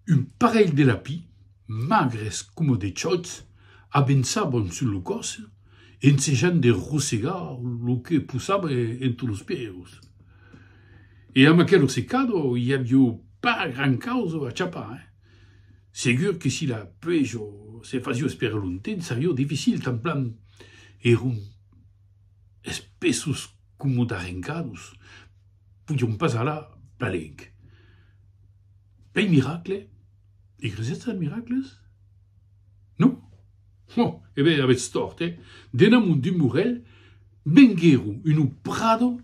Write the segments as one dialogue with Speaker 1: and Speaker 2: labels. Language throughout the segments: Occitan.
Speaker 1: Un parelh de lapis, magres coma de chòts, avençavan sus lo còs, ensejant de rosegar lo que posava entre los pièus. E amb aquel rosecado i aviá pas gran causa a chapar. Segur que si la pluèja se fasiá esperar longtemps, seriá dificil, tan plan èran espessos coma d'arrencados. podion pas alar palenc. Pei miracle? I cresètz als miracles? Non? Ho, e ben avètz tòrt, eh? Dena mon dimorèl venguèro uno prado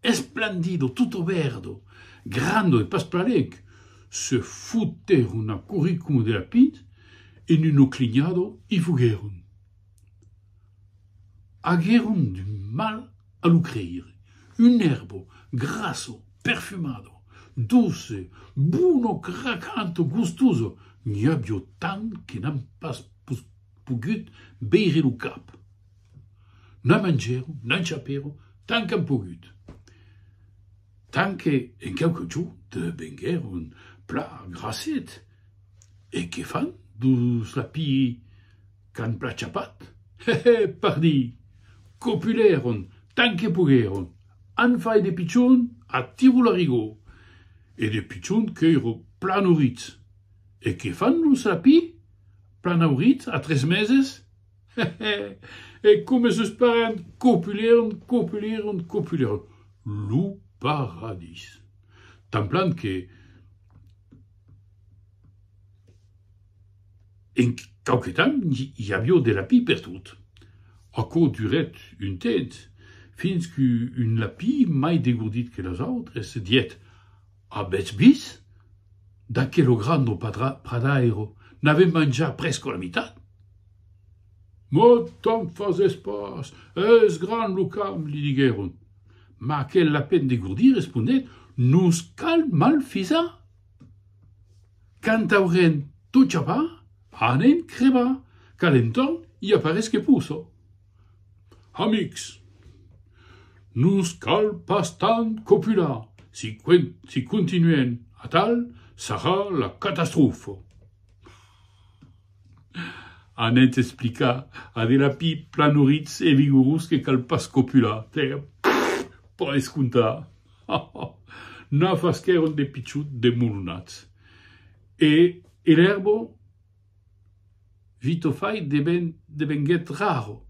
Speaker 1: esplandido, tutto verdo, grando e pas palenc, se fotèron a curricumo de lapins e n'uno clignado i foguèron. Aguèron d'un mal a lo creire. Un èrbo, grasso, perfumado, doce, bono, cracant, gustoso, n'i avió tant que n'an pas pus pogut veire lo cap. N'an mangèron, n'an chapèron tant qu'an pogut, tant que en quauque jorn devenguèron plan grasset e que fan dus lapilh. Qu'an plachapat? He, he! Pardí! Copulèron tant que poguèron, an fait de pichon a Tiro Larigó, e de pichon qu'èiro plan auritz. E que fan los lapí? Plan auritz a tres meses? He, he! E coma sos parents copulèron, copulèron, copulèron! Lo paradís! Tan plan que. En quauque temps i avió de lapí pertot. Aquò durèt un temps, fins qu'un lapí mai degordit que los autres diguèt, Avètz vist? D'aquelo gran au pradairo n'avèm manjat presque la mitat! Mò te'n fasètz pas, es grand lo camp, li diguèron. Mas aquel lapèn degordit responèt, Nos cal malfisar! Quand aurem tot chapat, anem crebar, qu'a l'entorn i aparés que poso. Amics, nos cal pas tant copular, si si continuem atal, sarà la catastrofo. Anent explicar a de lapí planuritz e vigorós que cal pas copular, tè, pas escontar. Ha, ha! Na fas qu'èron de pichut demolonats. E er erbo Vitofai devenguèt raro.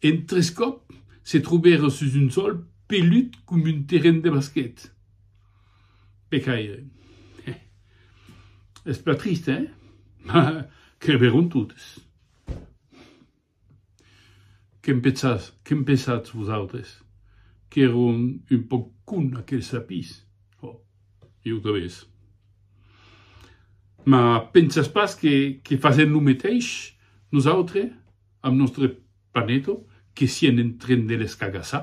Speaker 1: En tres còp se trobèron sus un sòl pelut com un terren de basquet. Pecaire. Hè. Es plan trist, hè? Mas crevèron totes. Que'n pensatz, que'n pensatz vosautres? Qu'èron un pauc cons aqueles sapís? Ò, ieu tanben. Mas pensatz pas que que fasèm lo meteis nosautres amb nòstre Panetto que sien en tren de l'escagassar?